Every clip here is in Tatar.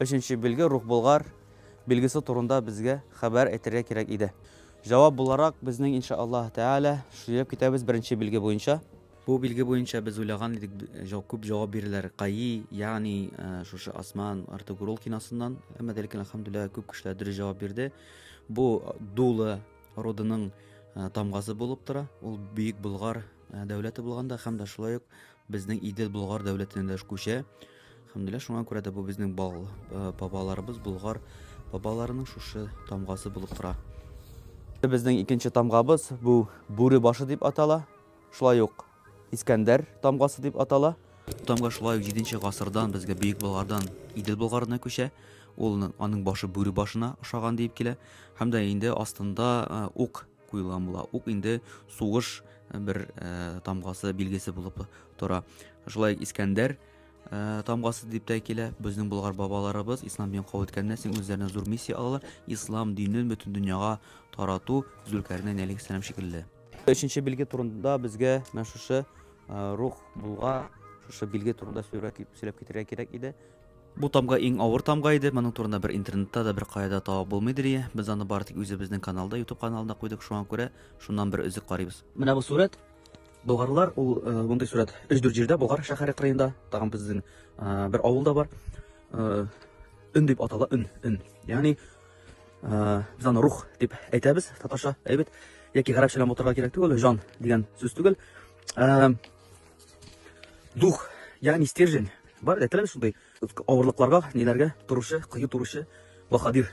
Өченче билге Рухболгар билгесе турында безгә хәбәр әйтергә кирәк иде. Җавап буларак, безнең инша Аллаһ Тәгалә сөйләп китәбез беренче билге буенча. Бу билге буенча без уйлаган идек күп җавап бирерләр каи, ягъни шушы Осман, Артугрул киносыннан, әмма дә ләкин әлхәмдүлилләһ күп кешеләр дөрес җавап бирде. Бу дулы родының тамгасы булып тора, ул бөек Болгар дәүләте булганда һәм дә шулай ук Безнең Идел Болгар дәүләтенә дә күчә. Хәмдүлилла, шуңа күрә дә бу безнең бал, э, бабаларыбыз Болгар бабаларының шушы тамгасы булып тора. Безнең икенче тамгабыз бу бүре башы дип атала. Шулай ук Искәндәр тамгасы дип атала. Тамга шулай ук 7 гасырдан безгә Бөек Болгардан Идел Болгарына күчә. Ул аның башы бүре башына ошаган диеп килә. Һәм дә инде астында э, ук куелган була. Ук инде сугыш э, бер э, тамгасы, билгесе булып тора. Шулай Искәндәр э, тамгасы дип тә килә. Безнең Болгар бабаларыбыз ислам динен кабул иткәннән соң үзләренә зур миссия алалар. Ислам динен бөтен дөньяга тарату Зөлкәрнәй алейхиссалам шикелле. Өченче билге турында безгә менә шушы э, рух булга шушы билге турында сөйләп сөйләп китәргә кирәк иде. Бу тамга иң авыр тамга иде, моның турында бер интернетта да, бер кая да табып булмый, ди Лия. Без аны бары тик үзебезнең каналда, YouTube каналында куйдык, шуңа күрә шуннан бер өзек карыйбыз. Менә бу сурәт. Болгарлар, ул э, мондый сурәт 3-4 җирдә, Болгар шәһәре кырыенда, тагын безнең э, бер авылда бар. Э, өн дип атала, өн, өн. Ягъни без аны рух дип әйтәбез, татарча әйбәт. Яки гарәпчә белән ботарга кирәк түгел, жан дигән сүз түгел. Дух, ягъни стержень, бар да теләр шундый авырлыкларга, ниләргә торучы, кыю торучы баһадир.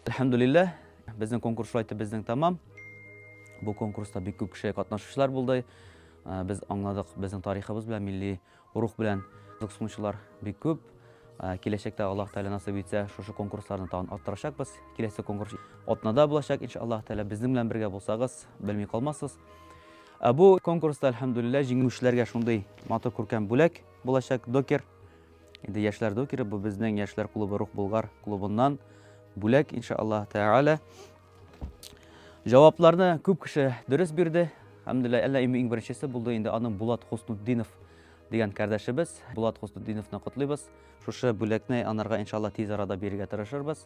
Әлхәмдулилләһ, безнең конкурс шулай итеп безнең тәмам. Бу конкурста бик күп кеше катнашучылар булды. Ә, Без аңладык, безнең тарихыбыз белән, милли рух белән кызыксынучылар бик күп. Ә, Киләчәктә Аллаһ Тәгалә насыйп итсә, шушы конкурсларны тагын арттырачакбыз. Киләсе конкурс Атнада булачак, иншаллаһ Тәгалә. Безнең белән бергә булсагыз, белми калмассыз. Ә бу конкурста, әлхәмдүлилләһ, җиңүчеләргә шундый матур күркәм бүләк булачак, докер. Инде яшьләр докеры, бу безнең яшьләр клубы Рух Булгар клубыннан бүләк, иншааллаһ тәгалә. Җавапларны күп кеше дөрес бирде. Әлхәмдүлилләһ, әллә иң беренчесе булды инде аның Булат Хуснутдинов дигән кардәшебез. Булат Хуснутдиновны котлыйбыз. Шушы бүләкне анарга иншааллаһ тиз арада бирергә тырышырбыз.